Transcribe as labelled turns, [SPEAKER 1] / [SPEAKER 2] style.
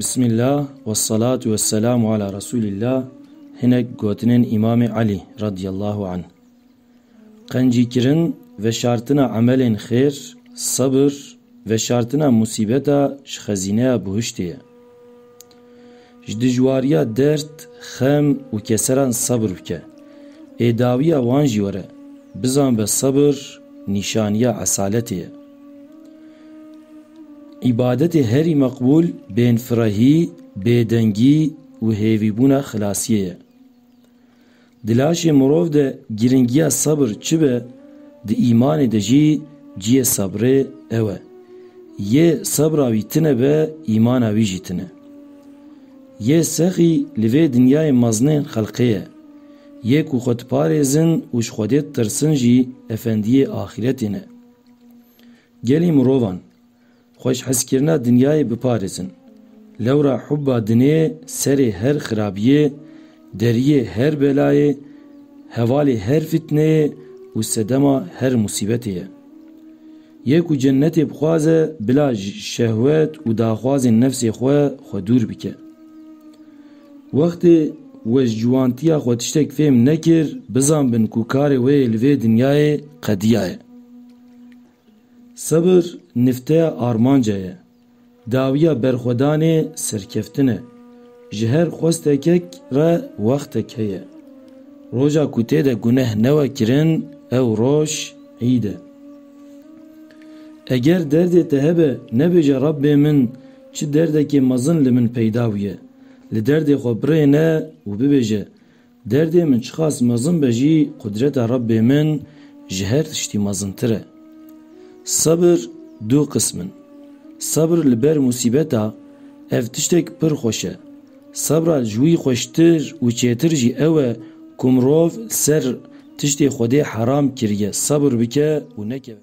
[SPEAKER 1] Bismillah ve salatu ve selamu ala Resulillah hinek gotinên Îmamê Elî radiyallahu anh. Qencîkirin, veşartina emelên xêr, sebir, veşartina musîbeta ji xezîneya bihiştê ye. Ji dijwariya derd, xem û keseran sebir bike. Ê dawiya wan jî were, bizanbe sebir nîşaniya esaletê ye. Îbadetê herî meqbûl bênfirehî, bêdengî û hêvîbûna xilasiyê ye. Di laşê mirov de girîngiya sebir çi be, di îmanê de jî ciyê sebrê ew e. Yê sebra wî tine be, îmana wî jî tine. Yê sexî li vê dinyayê mezinên xelqê ye. Yê ku xwe diparêzin û ji Xwedê ditirsin jî efendiyê axîretê ne. Gelî mirovan. Xweşheskirina dinyayê biparêzin. Lewra hubba dinê serê her xirabiyê, deriyê her belayê, hevalê her fîtneyê û sedema her musîbetê ye. Yê ku cennetê bixwaze bila ji şehwet û daxwazên nefsê xwe xwe dûr bike. Wextê we ji ciwantiya xwe tiştek fêm nekir, bizanbin ku karê we yê li vê dinyayê qediya ye. Sebir nifteya armanca ye, dawiya berxwedanê serkeftin e. Ji her xwestekek re wextek heye. Roja ku tê de guneh newe kirin ew roj îd e. Eger derdê te hebe nebêje Rabbê min çi derdekê mezin li min peyda bûye. Li derdê xwe birêne û bibêje Derdê min çiqas mezin be jî qudreta Rabbê min ji her tiştî mezintir e. Sebir du qism in. Sebir li ber musîbeta, ev tiştek pir xweş e. Sebra ji wî xweştir û çêtir jî ew e ku mirov li ser tiştê Xwedê heram kiriye sebir bike û nekeve.